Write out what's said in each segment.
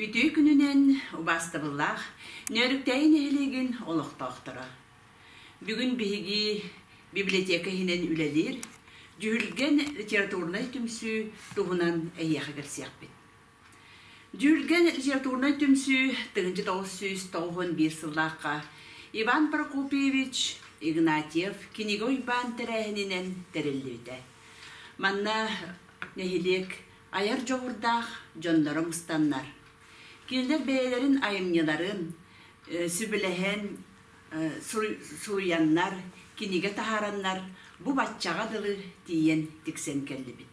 Үтүө күнүнэн убаастабыллаах Нөөрүктээйи нэһилиэгин олохтоохторо. Бүгүн биһиги библиотека иһинэн үлэлиир Дьүһүлгэн литературнай түмсүү туһунан эһиэхэ кэлсиэхпит. Дьүүлгэн литературнай түмсүү Тыһыынча тоҕус сүүс тоҕуһун биир сыллаахха Иван Прокопьевич Игнатьев кинигэ уйбаан тэрээһининэн тэриллибитэ. Манна нэһилиэк айар дьоҕурдаах дьонноро мустаннар. Кинилэр бэйэлэрин айымньыларын э, сүбэлэһэн э, суруйаннар, кинигэ таһаараннар бу баччаҕа дылы тиийэн тиксэн кэллибит.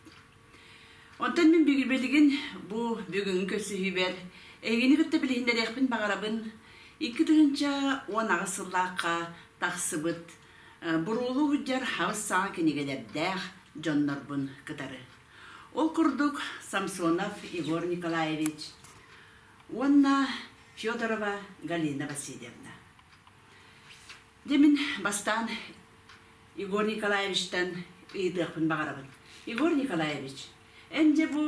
Онтон мин билигин бу бүгүҥҥү көрсүһүүбэр эйигини кытта билиһиннэриэхпин баҕарабын. Икки тыһыынча уон аҕыс сыллаахха тахсыбыт буруулу сылдьар хабыс-саҥа кинигэлэрдээх дьоннорбун кытары. Ол курдук Самсонов Егор Николаевич уонна Федорова Галина Васильевна. Дьэ мин бастаан Егор Николаевичтан ыйытыахпын баҕарабын. Егор Николаевич, эн дьэ бу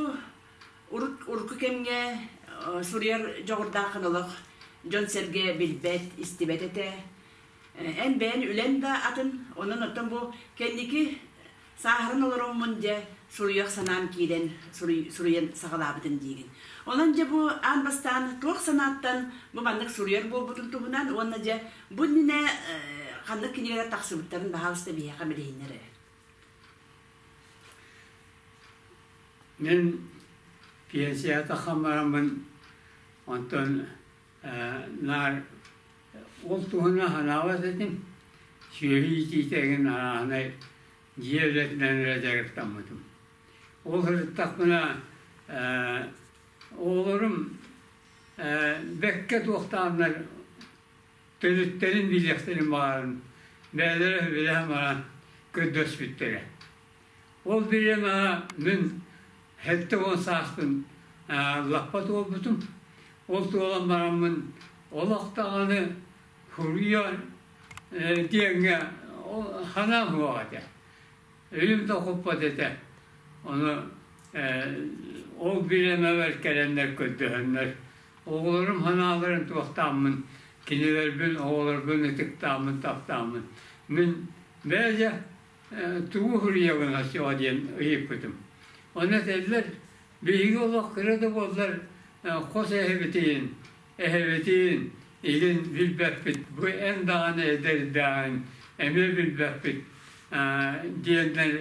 урут урукку кэмҥэ суруйар дьоҕурдааххын олох дьон-сэргэ билбэт, истибэт этэ. Эн бэйэн үлэн да атын, онон оттон бу кэнники Сааһыран олороммун дьэ суруйуох санаам киирэн суруйан саҕалаабытым диигин. Онон дьэ бу аан бастаан туох санааттан бу маннык суруйар буолбутун туһунан уонна дьэ бу иннинэ ханнык кинигэлэр тахсыбыттарын баһаалыста биһиэхэ билиһиннэр эрэ. Мин пенсията хамарамын онтон наар ол туһунан анаабат этим сүөһү итиитэ эҥин арааһынай дьиэ үлэтинэн эрэ дьарыктаммытым ол сырыттахпына оҕолорум бэккэ туохтааннар төрүттэрин билиэхтэрин баҕарын бэйэлэрэ билэһэ баран көрдөспүттэрэ Ол диэн мин хэттэ уон саастан лаппат буолбутум. Ол туолан бараммын олох даҕаны хуруйар диэҥҥэ ханаа буолар этэ. Өйүм да куппат этэ. Ону ол билэмэбэр кэлэннэр көрдөһөннөр оҕолорум ханааларын туохтааммын кинилэрбин оҕолорбун ытыктааммын таптааммын мин бэйэ тугу суруйаллара суоҕа диэн ыйыппытым. Ону этэллэр, биһиги олох кыра да буоллар хос эһэбитин, эһэбитин илин билбэппит, бу эн даҕаны эдэрдээҕин эмиэ билбэппит диэннэр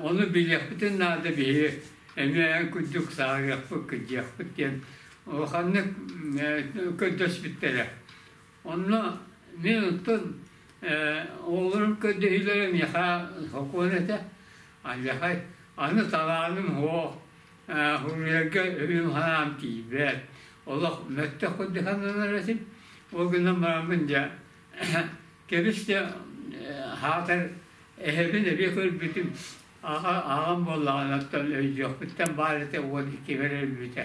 ону билиэхпитин наада биһи эмиэ курдук саарыахпыт кырдьыахпыт диэн улаханнык көрдөспүттэрэ. Онно мин ыттым оҕолорум көрдөһүүлэрэ миэхэ сокуон этэ. Алдьархай аны талааным суох суруйарга өйүм-санаам тиийбэт. Олох мөттөх курдук сананар этим. Ол гынан бараммын дьэ кэбис дьэ саатар эһэбин эбии көрбүтүм аҕам буоллаҕына оттон өйдүөхпүттэн баар этэ уон икки бэрэ өлбүтэ.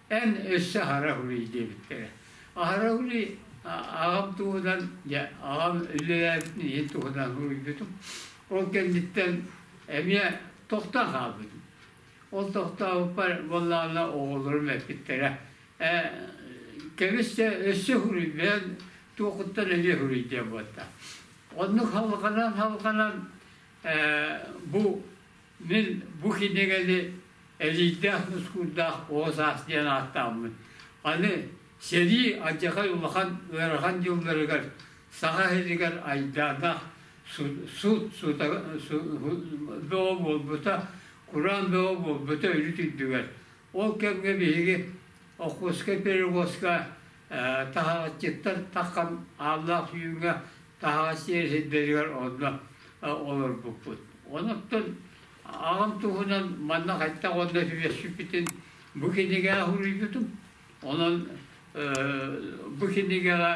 Эн өссө Хараҕылый диэбиттэрэ. Хараҕылый аҕам туһунан, дьэ аҕам үлэлээбитин иһин туһунан суруйбутум. Ол кэнниттэн эмиэ тохтон хаалбытым. Ол тохтообуппар буоллаҕына оҕолорум эппиттэрэ кэбистэ өссө суруйбээн туохуттан эмиэ суруйдиа буолта. Оннук халҕанан халҕанан бу Мин бу кинигэни Элийдээх Нускуурдаах Оҕо саас диэн ааттааммын, аны сэрии алдьархай улахан ыарахан дьылларыгар саха иһигэр айдааннаах суут бөҕө буолбута, кураан бөҕө буолбута үрүт үрдүгэр. Ол кэмҥэ биһиги Охотскай пирогоска таһаҕасчыттан таххан ааллаах үүҥҥэ таһаҕас сиэр сирдэригэр онно олорбуппут. Онуттан аҕам туһунан манна хайдах онно түбэспиппитин бу кинигэҕэ суруйбутум. Онон бу кинигэҕэ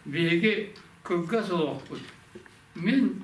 биһиги кылгас олохпут. Мин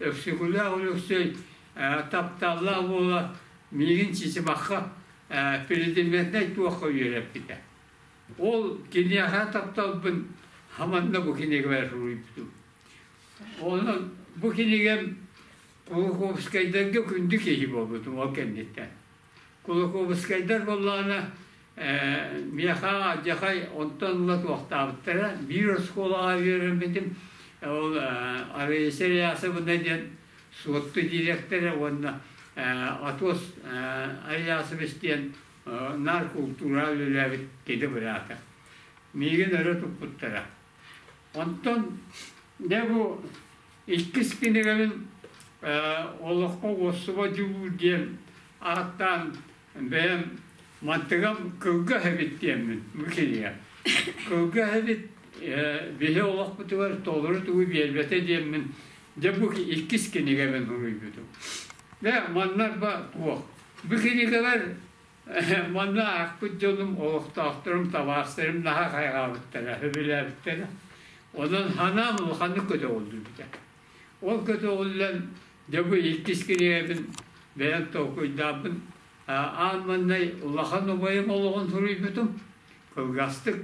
Өксөкүлээх Өлөксөй тапталлаах буола миигин чичибахха президеннэй туохха үөрэппитэ. Ол киниэхэ тапталбын хаманна бу кинигабар суруйбутум. Онон бу кинигам Кулаковскайдарга күндү киһи буолбутум ол кэнниттэн. Кулакуобускайдар буоллаҕына, миэхэ дьахай онтон ыла туохтаабыттара. Биир оскуолаҕа үөрэммитим, ол Арыйса Реасовна диэн суотту дириэктэрэ уонна Атос Ариасович диэн наар култуура үлэлээбит киһи быраата. Миигин өрө туппуттара. Онтон не бу Иккис кинигэбин Олоххо уоссуба дьулуур диэн ааттаан бэйэм мантыгам Кылгас эбит диэммин бу кинигэ. Кылгас эбит биһи олохпутугар толору тугу биэрбэтэ диэммин дьэ бу иккис кинигэбин суруйбутум. Дэ маннарба туох бу кинигэлэр Манна аахпыт дьонум, олохтоохторум, табаарыстарым наһаа хайҕаабыттара, сөбүлээбиттэрэ. Онон ханаан улаханнык көтөҕүллүбүтэ. Ол көтөҕүллэн, дьэ бу иккис кинигэбин бэйэм толкуйдаабын. Аан маҥнай улахан убайым олоҕун суруйбутум, кылгастык.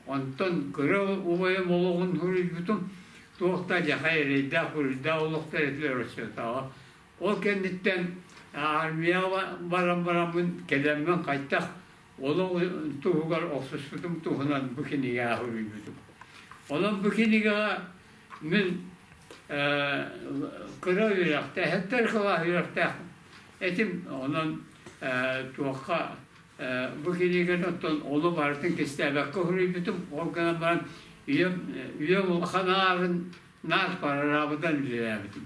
Онтон кыра убайым олоҕун суруйбутум, туох да дьахай эрэйдээх-буруйдаах олохтор этилэр оччотооҕу Ол кэнниттэн армияҕа баран бараммын кэлэммин хайдах олох туһугар охсуспутум туһунан бу кинигэ суруйбутум. Онон бу кинигэҕэ мин кыра үөрэхтээхтэр кылаас үөрэхтээхпин. Этим онон туохха бу киниганы оттон ону барытын кистээбэккэ суруйбутум. Ол гынан баран үйэм үйэм улахан аарын наар парараабыдан үлэлээбитим.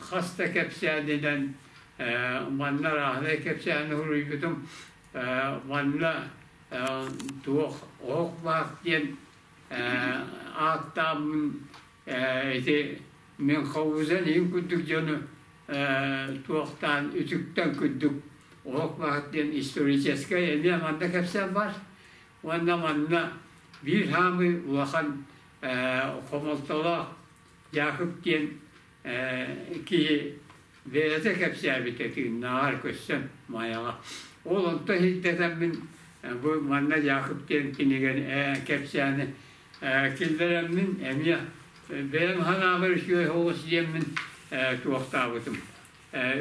хас да кэпсээнинэн манна рааһынай кэпсээн уруйбутум манна туох оһох баар диэн ааттааммын ити мин ховузан иһин курдук дьону туохтаан үтүктэн курдук оһох баар диэн историческай эмиэ манна кэпсээн бар уонна манна биир хаамыы улахан хомолтолоох Яков диэн киһи бэйэтэ кэпсээбитэ тыыннааҕар көрсөн Майаҕа. Ол онто ирдэтэммин бу манна Яков диэн кинигэн кэпсээни киллэрэммин эмиэ бэйэм ханаабар үчүгэй соҕус диэммин туохтаабытым.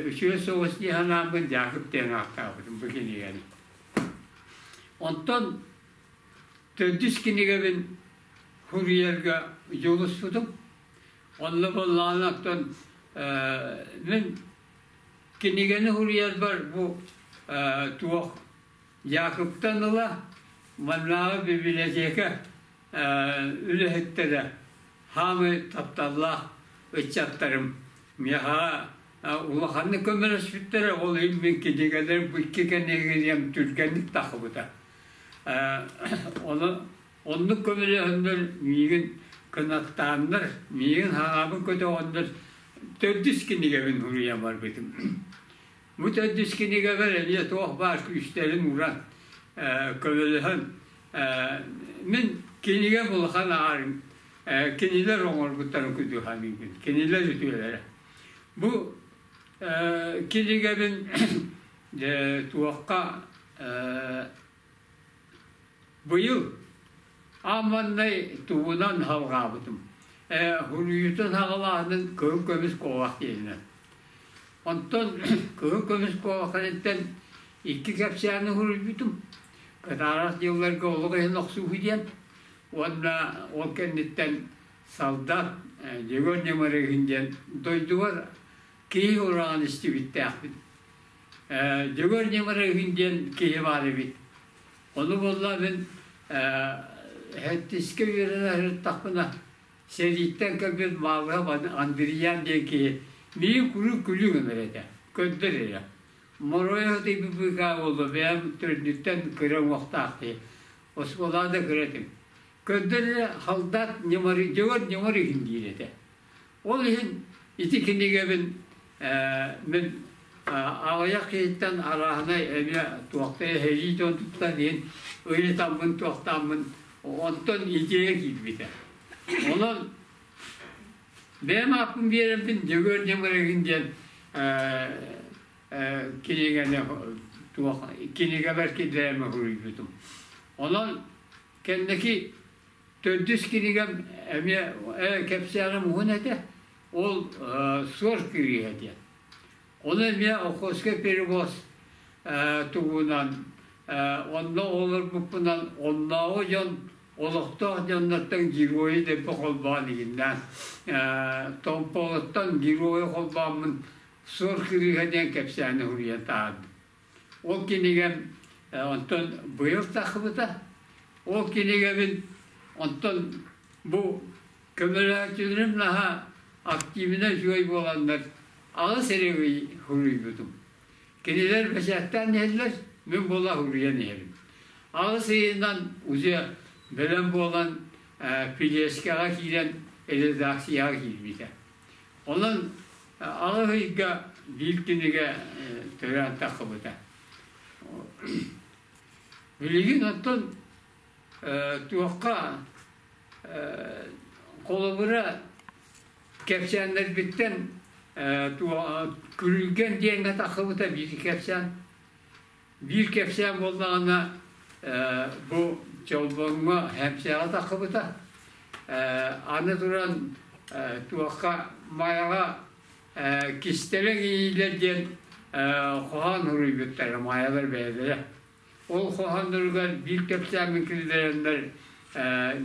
Үчүгэй соҕус дии ханааммын Яков диэн ааттаабытым бу кинигэни. Онтон Төрдүс кинигэбин суруйарга дьулуспутум. Онно буоллаҕынан мин кинигэни суруйарбар бу туох Якубтан ыла маннааҕы библиотека үлэһиттэрэ хаамыы тапталлаах ыччаттарым миэхэ улаханнык көмөлөспүттэрэ ол иһин мин кинигэлэр икки кэнигириэм түргэнник тахсыбыта Оннук көмөлөһөннөр миигин кынаттааннар, миигин хаҕаабын көтөҕөннөр төрдүс кинигэбин суруйан барбытым. Бу төрдүс кинигэбэр эмиэ туох баар күүстэрин уран көмөлөһөн мин кинигэ булхан аарым кинилэр оҥорбуттарын кытары саныыбын кинилэр үтүөлэрэ. Бу Килигэрин туохха быйыл ааманнай тугунан халҕаабытым. Хуруйутун хаҕалааһынын кыһыл көмүс куобах диэһинэ. Онтон кыһыл көмүс куобахтарыттан икки кэпсээни хуруйбутум. Кытаарах дьылларга олох иһин охсууһу диэн уонна ол кэнниттэн Салдан Дегорный Марыгын диэн дойдубар киһи ураҕан истибиттээхпин. Дегорный Марыгын диэн киһи баар эбит. Ону болла мин хэттискэ үөрэнэ сырыттахпына сэрииттэн кэлбит Мавров Андриан диэн киһи миин куру күлү гынар этэ, көрдөр эрэ. Моройо ты быга боло бэм төрдүттэн кыра уохтаах ти. Осколада кыратым. Көрдөрөрө Халдаат Ньымарыйдьыгар ньымар иһин диир этэ. Ол иһин ити кинигэбин мин аҕыйах киһиттэн арааһынай эмиэ туохтай эһэйии дьон туттан иһин ыйытаммын туохтааммын онтон идея киирбитэ. Онон бэйэм ааппын биэрэммин Дьөгүөр Ньымарыгын диэн кинигэни туох кинигэбэр киллэриэмэ суруйбутум. Онон Кэнники төрдүс кинигэм эмиэ ээ, кэпсээҕим уһун этэ, ол Суор кириэһэ диэн. Ону эмиэ Охотскай перевоз туһунан онно олорбуппунан оннооҕу дьон олохтоох дьоннортон геройу дэлби холбоон игиннээн Томпоҕоттон геройу холбооммун Суор кырыыһа диэн кэпсээни суруйан таһаардым. Ол кинигэм онтон быйыл тахсыбыта. Ол кинигэбин онтон бу көмөлөөччүлэрим наһаа активнай үчүгэй буоланнар аҕыс эрэгий суруйбутум. Кинилэр бэчээттээн иһэллэр, мин була суруйан иһэрим. Аҕыс ыйынан уже бэлэм буолан э, пилешкаҕа киирэн редакцияҕа киирбитэ. Онон аҕыс ыйга биир кинигэ төрөөтөххүбүтэ. Билигин оттон туохха холобура кэпсээннэрбиттэн күрүлгэн диэн атаххыбыта биир кэпсээн Биир кэпсээн буоллаҕына, бу Чолбоҥҥо Хэмсээҕэ таххыбыта. Аны туран, туохха Майаҕа кистэлэҥ иилэр диэн хоһоон суруйбуттара майалар бэйэлэрэ. Ол хоһоонноругар биир кэпсээммин киллэрэннэр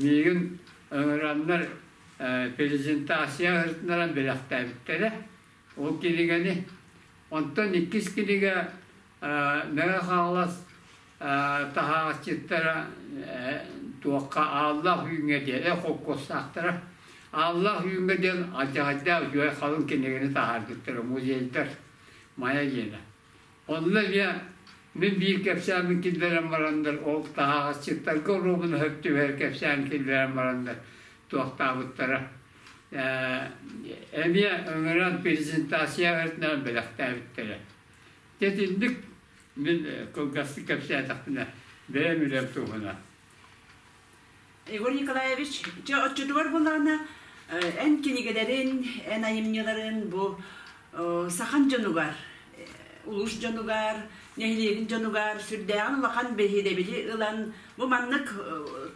миигин ыҥыраннар презентация ыытынаран бэлэхтээбиттэрэ. Ол кинигэни онтон иккис кинигэ Мэҥэ Хаҥалас таһааччыттара туохха Ааллаах Үүҥҥэ диэн холкуостаахтара Ааллаах Үүҥҥэ диэн алдьаһайдаах үһү халыҥ кинигэни таһаардыттара музейдар Майа диэнэ. Онно эмиэ мин биир кэпсээмин киллэрэн барандар ол таһааччыттарга оруобуна хөп түбэһэр кэпсээн киллэрэн барандар туохтаабыттара эмиэ ыҥыран презентация ырытынан бэлэхтээбиттэрэ. Дэтинник мин кылгастык кэпсээтэхпинэ бэйэм үлэм туһуна. Егор Николаевич, дьэ оччотугар булаана эн кинигэлэрин, эн айымньыларын бу сахан дьонугар, улуус дьонугар, нэһилиэгин дьонугар сүрдээҕин улахан биһирэбили ылан бу маннык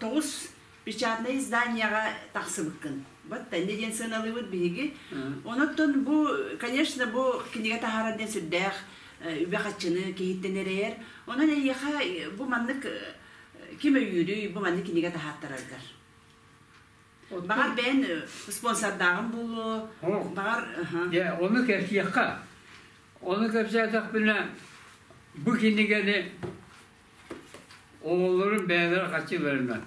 тоҕус печатнай изданиеҕа тахсыбыккын. Вот теннэ диэн сыаналыыбыт биһиги. Онон бу, конечно, бу кинигэ таһаарар диэн сүрдээх үбэ-харчыны киһиттэн эрэйэр. Онон эйиэхэ бу маннык ким өйүүрүй, бу маннык кинигэ таһааттараргар? Баҕар бэйэн спонсордааҕым буолуо, баҕар... Дьэ, ону кэпсиэххэ. Ону кэпсээтэхпинэ, бу кинигэни Оҕолорум бэйэлэрэ хаччыларынан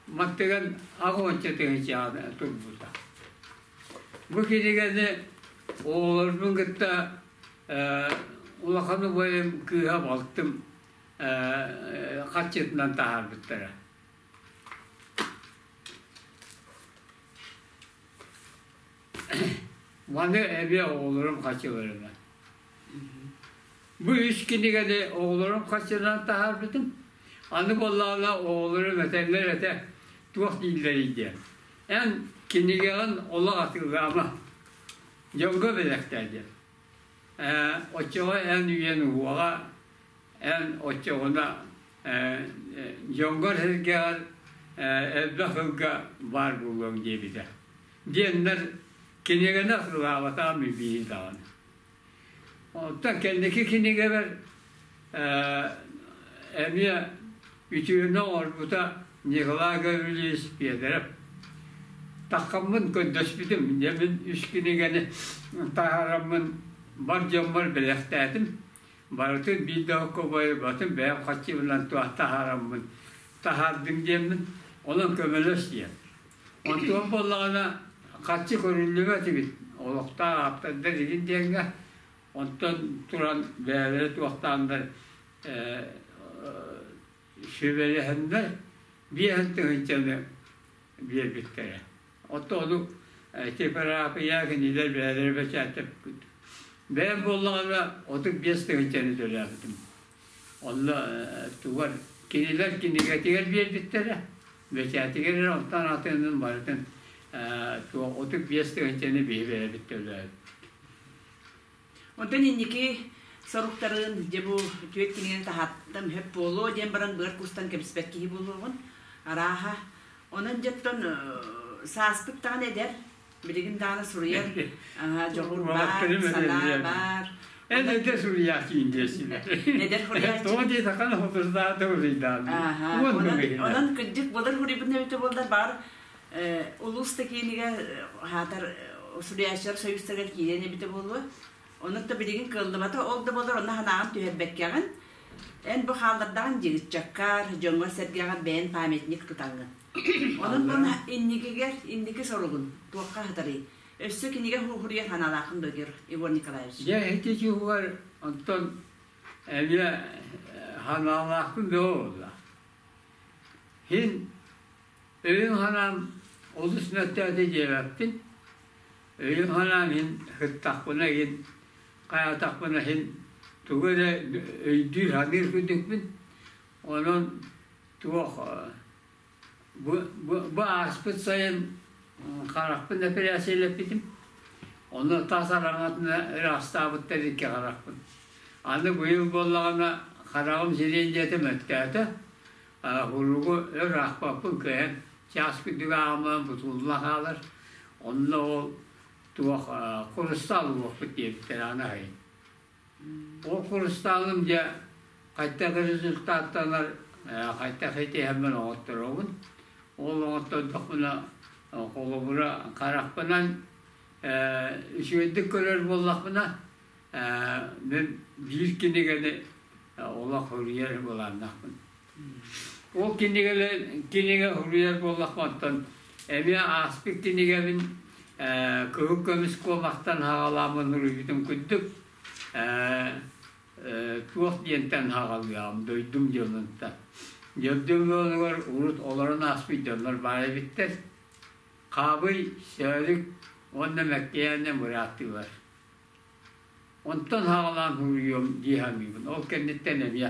маттыган аҕыонча тыһычаана турбута. Бу кинигэни оҕолорбун кытта э, улахан убайым кыыһа балтым э, хаччытынан таһаарбыттара. Маны эбиэ оҕолорум хаччыларынан. Бу үс кинигэни оҕолорум харчынан таһаарбытым. Аны буоллаҕына оҕолорум этэллэр этэ туох дииллэрий диэн. Эн кинигэҕин олох атыылаама. Дьонго бэлэхтээ диэн. Э, оччоҕо эн үйэн уоҕа, эн оччоҕуна э, э, дьонгор сэргэҕэр элбэх ылга баар буолуоҥ диэбитэ. Диэннэр кинигэни атыылаабатаҕым билиин даҕаны. Оттон кэнники кинигэбэр эмиэ үтүөнү оҥорбута Николай Гаврильевич Педеров. Таххаммын көрдөспүтүм, нэмин үс кинигэни таһараммын бар дьоммор бэлэхтээтим. Барытын биир да оккубайбатым, бэйэм хаччыбынан туох таһараммын, таһаардым диэммин, онон көмөлөс диэн. Онтон буоллаҕына, харчы көрүллүбэт эбит. Олохтоох ааптардар игин диэҥҥэ, онтон туран бэйэлэрэ туохтаандар сүбэлэһэннэр, биэһин тыһынчаны биэрбиттэрэ. Оттон ону типэрапия кинилэр бэйэлэрэ бэчээтэппит. Бэйэм буоллаҕына, отут биэс тыһынчаны төлөөбүтүм. Онно тугар кинилэр кинигэтигэр биэрбиттэрэ, бэчээтигэр эрэ онтон атынын барытын туох отут биэс тыһынчаны биһирэбиттэлэр. Онтон инники соруктарын дьэ бу түөт кинигэн таһаттам хөп буолуо диэн баран быар кустан кэбиспэт киһи буолуоҕун арааһа онон дьоттон сааспыт даҕаны эдэр билигин даҕаны суруйар дьоҕур баар, санаа баар. Эн эдэ суруйааччын диэсинэ. Эдэр хуруйааччын. Тоҕо диэтаххына хокурсаата суруйдаабын. Онон кырдьык болар хуруйбутун эбитэ буоллар баар улуус да киинигэ хаатар суруйааччылар союзтарыгар киирэн эбитэ буолуо. Онон да билигин кыаллыбата ол да болар онно санааҕын түһэрбэккэҕин. Эн бу хааллардаҕын дьыгыччаккар, дьоҥҥор-сэргэҕэр бэйэн памятник тутаҥҥын. Онон инникигэр инники соругун туохха аһатарый? Өссө кинигэ хууһуруйа санаалаахын бөгөр Иван Николаевич. Дьэ, ити дьиһугар онтон эмиэ санаалаахпын бөҕө буолла. Син өйүн-санаам олус мөлтөөтө диэбэппин. Өйүн-санаам иһин сыттахпына иһин, хайатахпына иһин тугу эрэ өйдүүр, саныыр күндүкпүн. Онон Туох бу ааспыт сайын харахпын эпэрээссийэлэппитим. Ону тас араҥатына ыраастаабыттар икки харахпын. Аны быйыл буоллаҕына хараҕым сириэн диэтэ мөттөөтө. Уругу өр аахпаппын кыайан чаас күндүг аамынан бутулла хаалар. Онно ол туох курустаал уоппут диэбиттэр аны айын. Курустааҕым дьэ хайдах результаттанар, хайдах этиһэммин оҥотторобун. Ол оҥоттордохпуна холобура харахпынан үчүгэйдик көрөр буоллахпына мин биир кинигэни олох суруйар былааннаахпын. Ол кинигэлэр кинигэ суруйар буоллахпаттан эмиэ ааспыт кинигэбин кыһыл көмүс куомахтан хаҕалаамын суруйбутум курдук туох диэнтэн хаҕалыам дойдум дьонунта дьөрдүм ыалыгар урут олорон ааспыт дьоннор баар эбиттэр хаабый сөөлүк уонна мэккэйээнэ мырааттыылар Онтон саҕалаан суруйуом дии саныыбын. Ол кэнниттэн эмиэ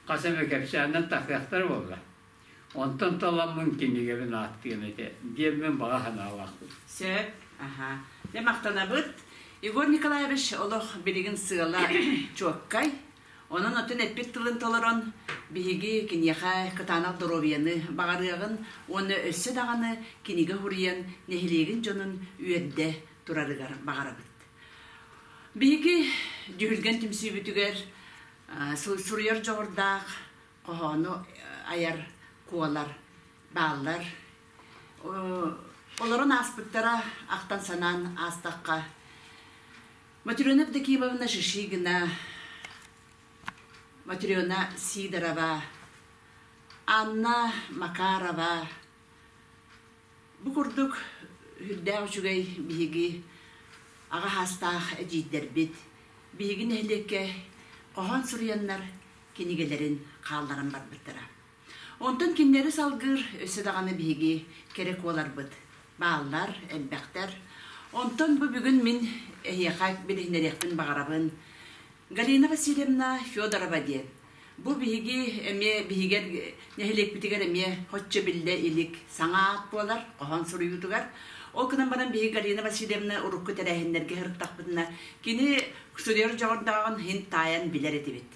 хас эмэ кэпсээнинэн тахсыахтара буолла. Онтон таламмын кинигэбин ааттыам этэ диэммин баҕа санаалаахпын. Сөп. Аһаа. Дьэ махтанабыт. Егор Николаевич олох билигин сыала чуоккай. Онон оттон эппит тылын толорон биһиги киниэхэ кытаанах доруобуйаны баҕарыаҕын уонна өссө даҕаны кинигэ суруйан нэһилиэгин дьонун үөрдэ, турарыгар баҕарабыт. Биһиги Дьүһүлгэн түмсүүбүтүгэр суруйар дьоҕурдаах хоһоону айар, куолар, бааллар. Олорон ааспыттара ахтан-санаан аастахха, Матрена Евдокимовна Шишигина, Матрена Сидорова, Анна Макарова, Бу курдук үрдээх үчүгэй биһиги аҕа саастаах эдьиийдэрбит биһиги нэһилиэккэ хоһоон суруйаннар кинигэлэрин хаалларан барбыттара. Онтон кинилэри салгыыр өссө даҕаны биһиги кэрэ куоларбыт бааллар, элбэхтэр. Онтон бу бүгүн мин эһиэхэ билиһиннэриэхпин баҕарабын. Галина Васильевна Федорова диэн Бу биһиги эмиэ биһигэр нэһилиэкпитигэр эмиэ хоччу биллэ илик саҥа аат буолар хоһоон суруйуутугар. Ол гынан баран биһиги Галина Васильевна урукку тэрээһиннэргэ сырыттахпытына кини судьуйар дьоҕурдааҕын иһин таайан билэр этибит.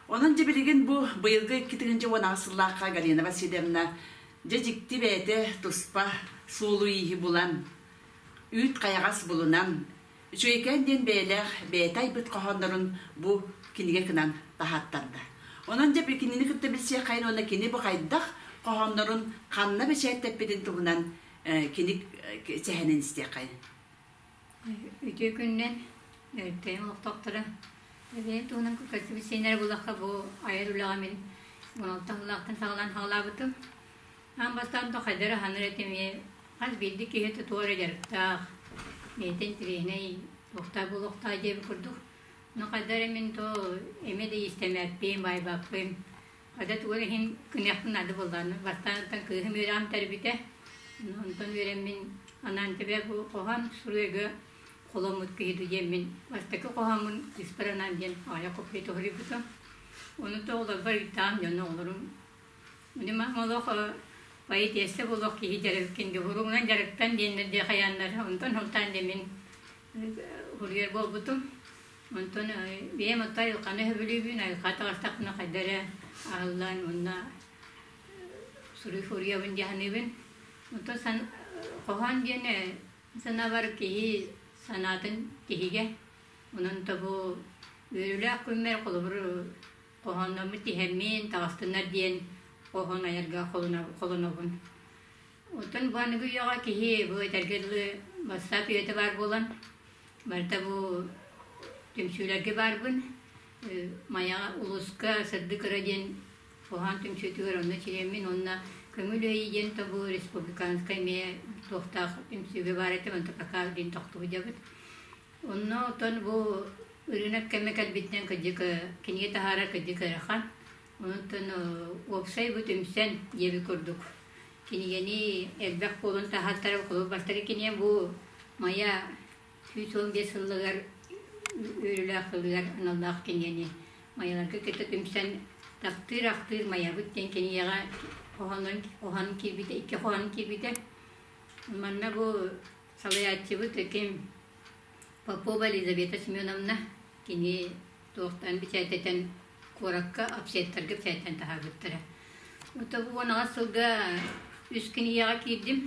Онон дьэ билигин бу быйылгы икки тыһыынча уон аҕыс сыллаахха Галина Васильевна дьэ дьикти бэйэтэ туспа суолу-ииһи булан, үүт хайаҕас булунан, Үчүгэйкээн диэн бэйэлээх бэйэтэ айбыт хоһооннорун бу кинигэ гынан таһааттарда. Онон дьэ кинини кытта билсиэххайын уонна кини бу хайдах хоһооннорун ханна бэчээттэппитин туһунан киник сэһэнин истиэххайын. Үтүө күннэн өртөйөн олохтохторо Эбээн туһунан көтсүбүт сиэннэрэ булахха бу айар үлэҕэ мин 16 сыллаахтан саҕалаан саҕалаабытым. Аан бастаан Тохайдар аһынар этим эмиэ хас биирдии киһитэ туох эрэ дьарыктаах, бэйэтин тренай, туохтаа буолуохтаах диэбит курдук, но хайда эрэ мин то эмиэ да иистэмээппин, баайбаппын, хайда тугу эрэ иһин күнэхпин ады буллаан бастаантан кыыһым үөрэҕим тэрбитэ, онтон үөрэммин анаан тэбэ бу хоһоон суруйга холоммут киһи дуу диэммин бастакы хоһооммун сыспар анаан диэн аҕыйах копия туһулуйбутум. Ону то олорбор ыйдаам дьоно олорум Били мах молох поэтесса булох киһи дьарыккин дьуһуруҥунан дьарыктан диэннэр дии хайааннар онтон сылтаан дэмин хуруйар буолбутум онтон бэйэм отто айылханы сөбүлүүбүн айылха таҕыстахпына хайда эрэ аһыллаан мунна суруй хуруйабын дьаһаныыбын онтон сан хоһоон диэни санаабар киһи санаатын киһигэ онон тобу үөрүүлээх күммэр холобур хоһоонноммут тиһэммин таҕыстыннар диэн хоһоон айарга холонобун. Оттон быһанныгы үйэҕэ киһи бу этэргэ дылы бастаап үйэтэ баар буолан, барыта бу түмсүүлэргэ баарбын. Майаҕа улуска Сырды кыра диэн хоһоон түмсүүтүгэр онно чириэммин уонна көҥүл өйі диэн тобу республиканскай миэ туохтаах түмсүүгэ баар этэ, онто пока диэн тохтубут дьабыт. Онно оттон бу ырыынак кэмэ кэлбитинэн кырдьык кинигэ таһаарар кырдьык ыарахан. Онтон уопсай бу түмсэн диэбит курдук кинигэни элбэх буолан таһаартара холобур бастакы кинигэм бу Майа сүүс уон биэс сылыгар үөрүүлээх сылыгар аналлаах кинигэни майаларга кытта түмсэн Тахтыыр ахтыыр майабыт диэн кинигэҕэ хоһоонун хоһоон киирбитэ икки хоһоон киирбитэ. Манна бу салайааччыбыт ким Попова Елизавета Семеновна кини туохтан бэчээттэтэн куоракка апсеттарга бэчээттэн таһаарбыттара. Ото бу унаҕас сылга үс күн ийэҕэ киирдим.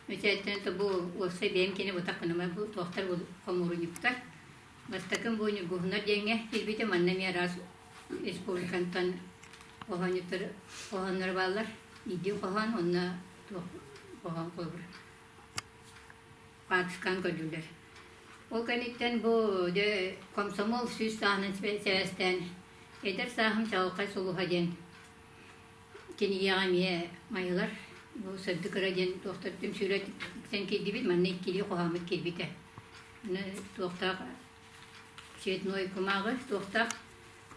Бэчээттэн то бу уопсай бэйэм кини бутаккыныма бу туохтар бу хомуурунньуктар. Бастакын бу ньургуһуннар диэҥҥэ килбите манна ми раз республикантан хоһоонньуттар хоһооннор бааллар. Идди хоһоон онна туох хоһоон холбур. Паакискаан көрдүлэр. Ол кэнниттэн бу дьэ комсомол сүүс сааһынан сибэстээн эдэр сааһым чаҕылхай сулуһа диэн кинигэҕэ эмиэ майылар бу сырды кыра диэн туохтартым сүүрэ тиксэн киирдибит манна иккилии хоһооммут киирбитэ аны туохтаах цветной кумааҕы туохтаах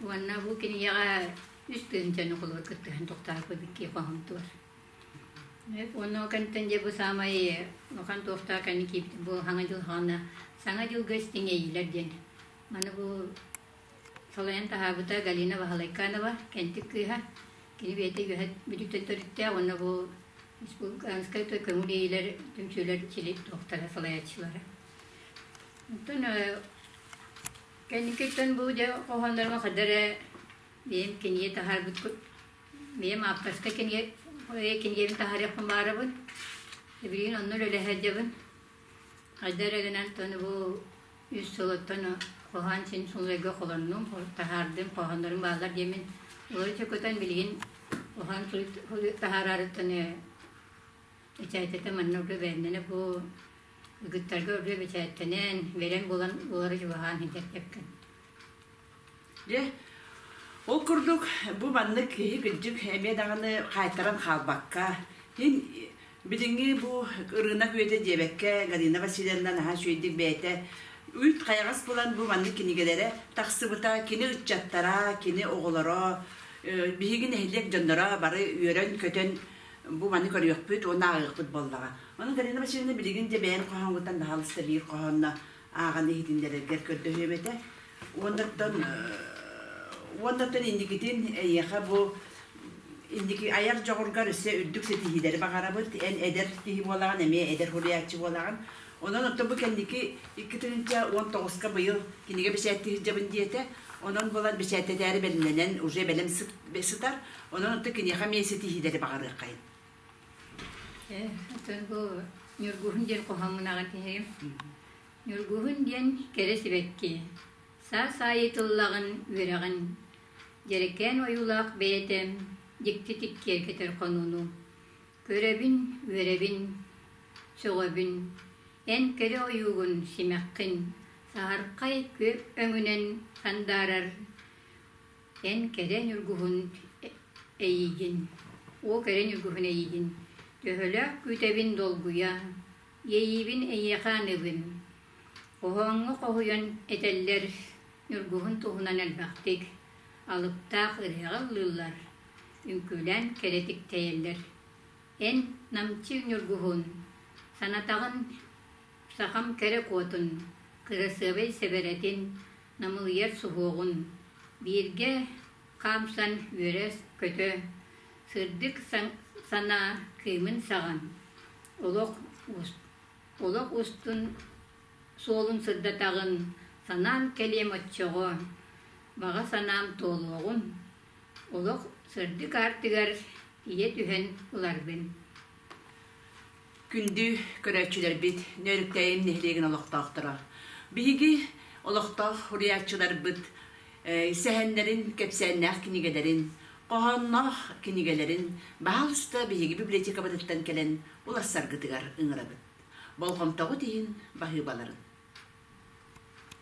уонна бу кинигэҕэ үс тыһыынчаны холобур кыттыһан тохтооппут икки хоһоомтугар Онно кэнтэн дьэ бу саамай улахан туохтаах кэнни киирбит бу Саҥа дьыл хаана Саҥа дьылга истиҥэйиилэр диэн. Маны бу салайан таһаабыта Галина Вахалайканова, кэнтик кыыһа. Кини бэйэтэ үөһэ бүдүктэн төрүттээх уонна бу республиканскай той көҥүл иилэр түмсүүлэр сили туохтара салайааччылара. Оттон кэнникиттэн бу дьэ хоһооннорго хадара бэйэм кинигэ таһаарбыт Ийэм ааптарска кинигэ, кинигэбин таһаарыахпын баарабын. Билигин онно үлэ сылдьабын. Хайда эрэ гынан тону бу үс сыл оттон хоһоон син сулайга холоннум, таһаардым, хоһооннорум бааллар диэмин. Олоруча көтөн билигин хоһоон таһаарарыттан бэчээттэтэ манна уже бээннэнэ бу ыгыттарга уже бэчээттэнэн, бэрэн булан булары чугаһаан сылдьар кэпкин. Дьэ, ол курдук бу маннык киһи кырдьык эмиэ даҕаны хаайтаран хаалбакка, иһин билиҥҥи бу ырыынак үйэтэ диэбэккэ Галина Васильевна наһаа үчүгэйдик бэйэтэ үүт хайаҕас булан бу маннык кинигэлэрэ тахсыбыта кини ыччаттара, кини оҕолоро, биһиги нэһилиэк дьонноро бары үөрэн-көтөн бу маннык көрүөхпүт уонна ааҕыахпыт буоллаҕа. Ону Галина Васильевна билигин дьэ бэйэҥ хоһооҥҥуттан хаһаалыста биир хоһоонно ааҕан иһитиннэрэргэр көрдөһүөм этэ. Уоннартан уоннартан инникитин эйиэхэ бу инники айар дьоҕургар өссө үрдүк ситиһиилэри баҕарабыт. Эн эдэр киһи буолаҕын, эмиэ эдэр уһуйааччы буолаҕын. Онон оттон бу кэнники икки тыһыынча уон тоҕуска быйыл кинигэ бэчээтти сылдьабын диэтэ. Онон булан бэчээттэтээри бэлэмнэнэн уже бэлэм сытар. Онон оттон киниэхэ эмиэ ситиһиилэри баҕарыаххайын. Э, бу Ньургуһун диэн хоһоҥҥунаҕын иһэйим. Ньургуһун диэн кэрэ сибэкки. Саас аайы тыллаҕын, үөрэҕин. Дьэрэкээн ойуулаах бэйэтэ дьикти-тик киэркэтэр хонууну. Көрөбүн, үөрэбин, сөҕөбүн. Эн кэрэ ойуугун, симэххин, саһархай күө өҥүнэн сандаарар Эн кэрэ ньургуһун эйиигин, уу кэрэ ньургуһун эйиигин, төһөлөөх күүтэбин долгуйа, иэйиибин эйиэхэ аныбын. Хоһооҥҥо хоһуйан этэллэр ньургуһун туһунан элбэхтик, алыптаах ырыаҕа ыллыыллар, үҥкүүлээн кэрэтик тэйэллэр. Эн намчы ньургуһун, санатаҕын сахам кэрэ куотун, кырасыабай сэбэрэтин, Намылыйар суһуоҕун. Бииргэ хаамсан үөрэ-көтө, сырдык санаа Кыымын саҕан, олох олох устун суолун сырдатаҕын, санаам кэлиэм оччоҕо, баҕа санаам туолуоҕун, олох сырдык аартыгар тиийэ түһэн ыларбын Күндү көрөөччүлэрбит, Нөөрүктээйим нэһилиэгин олохтоохторо! Биһиги олохтоох уруйааччыларбыт сэһэннэрин, кэпсээннээх кинигэлэрин, хоһоонноох кинигэлэрин баһаал уста биһиги библиотекабытыттан кэлэн уларсаргытыгар ыҥырабыт. Болҕомтоҕут иһин баһыыбаларын!